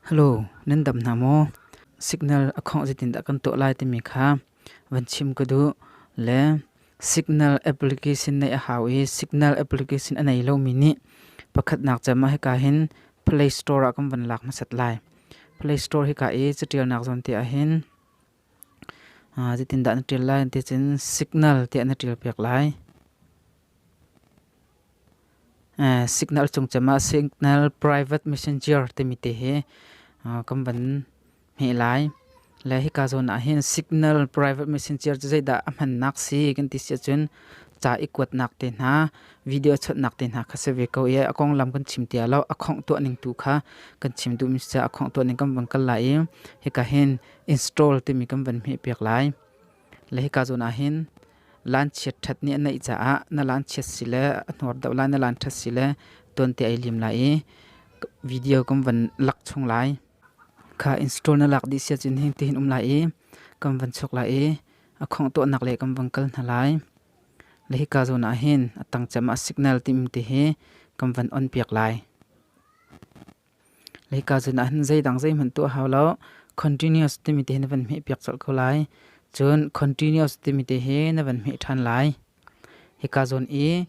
Hello, nan dam hna maw? Signal a khawngh zeitindah kan tuah lai timi kha van chim ka duh. Le signal application neih a hau i signal application a nei lomi nih pakhatnak cem ah hika hin Play Store ah kan van lak hmasat lai. Play Store hika i catialnak zawn te ah hin Zeitindah na ṭial lai? Ti cun signal tiah na ṭialpiak lai. Signal cung cem ah signal private messenger timi te hi kan van hmeh lai. Le hika zawn ah hin signal private messenger cu zeidah a hmannak si kan ti si ahcun ca i kuatnak te hna, video chawnhnak te hna kha si ve ko i a konglam kan chim tiah lo a khongh tuah ning tu kha kan chim duhmi si caah a khongh tuah ning kan van kal lai i hika hin install timi kan van hmeh piak lai. Le hika zawn ah hin lanchiat ṭhat nih a neih caah na lanchiat si le a hnor deuh lai na lan ṭhat si le tuan te ai lim lai i video kan van lak chung lai. Kha install na lak dih sia cun hin tihin um lai i kan van chuk lai i a khong tuahnak le kan van kal hna lai. Le hika zawn ah hin a tangcem ah signal tim ti hi kan van on piak lai. Leika cun ah hin zeidang zeihmanh tuah hau lo continuous timi te hi na van hmeh piak colh ko lai. Cun continuous timi te hi na van hmeh ṭhan lai. Hika zawn i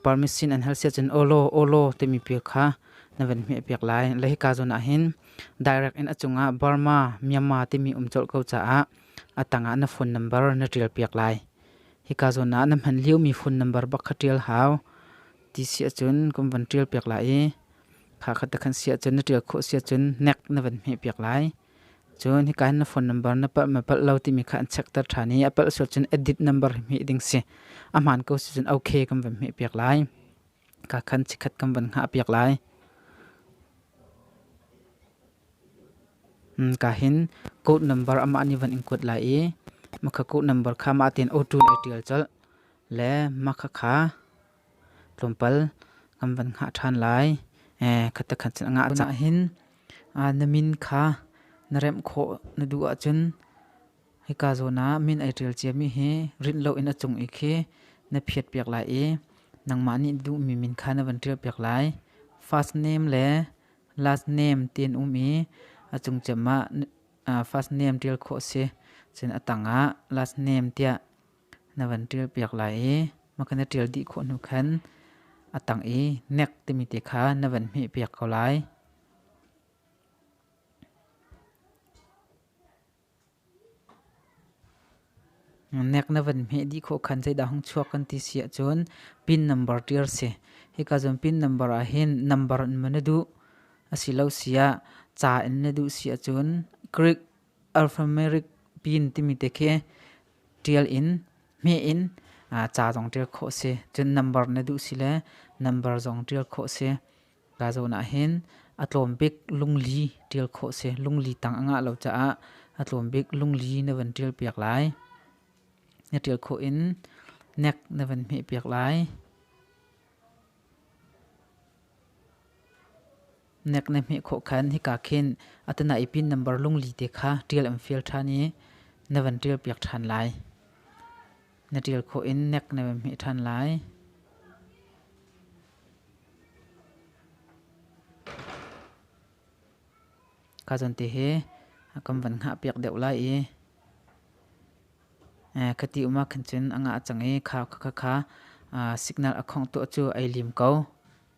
permission an hal siah cun olo olo timi pia kha na van hmeh piak lai. Le hika zawn ah hin direct in a cungah Burma Myanmar timi um colh ko caah a tangah na phone number na ṭial piak lai. Hika zawn ah na hman liomi phone number bak kha ṭial hau. Ti siah cun kum van ṭial piak lai i Kha kha ta khan si ahcun na ṭial khawh si ahcun nek na van hmehpiak lai. Cun hika na phone number na palh ma palh lo timi kha an checkter ṭhan i a palh sual cun edit number hi hmeh ding si. A hmaan ko si cun OK kan van hmehpiak lai. Kha khan chikkhat kan van hngahpiak lai. Ka hin code number amah nih van in kuat lai i makha code number kha mah tein auto na ṭial colh le makha kha tlawmpal kan van hngah ṭhan lai. Khatekhat cun a ngah cang ahhin na min kha na remh khawh na duh ahcun hika zawn ah min ai ṭial ciami hi rinh loin a cung i khi na phiatpiak lai i nangmah nih duhmi min kha na van ṭialpiak lai. First name le last name ti an um i a cung ciam ah first name ṭial khawh a si. Cun a tang ah last name tiah na van ṭial piak lai i maka na ṭial dih khawh hnu khan a tang i nek timi te kha na van hmeh piak ko lai. Nek na van hmeh dih khawh khan zeidah hong chuak kan ti si ahcun pin number ṭial si. Hika cun pin number ah hin number in maw na duh asilo siah ca in na duh si ahcun Greek Alphanumeric bean timi te khi ṭial in, hmeh in ca zong ṭial khawh a si. Cun nambar na duh si le nambar zong ṭial khawh a si. Ka zawn ahhin a tlawm bik lungli ṭial khawh a si. Lungli tang a ngah lo caah a tlawm bik lungli na van ṭial piak lai. Na ṭial khawh in nek na van hmeh piak lai. Nek na hmeh khawh khan hika khin atana ipin nambar lungli te kha ṭial an fial ṭhan i na van ṭial piak ṭhan lai. Na ṭial khawh in nek na van hmeh ṭhan lai. Ka zon te he kan van ngah piak deuh lai i khati uma khan cun anga a cang i khau kha kha signal a khongh tuah cu ai lim ko.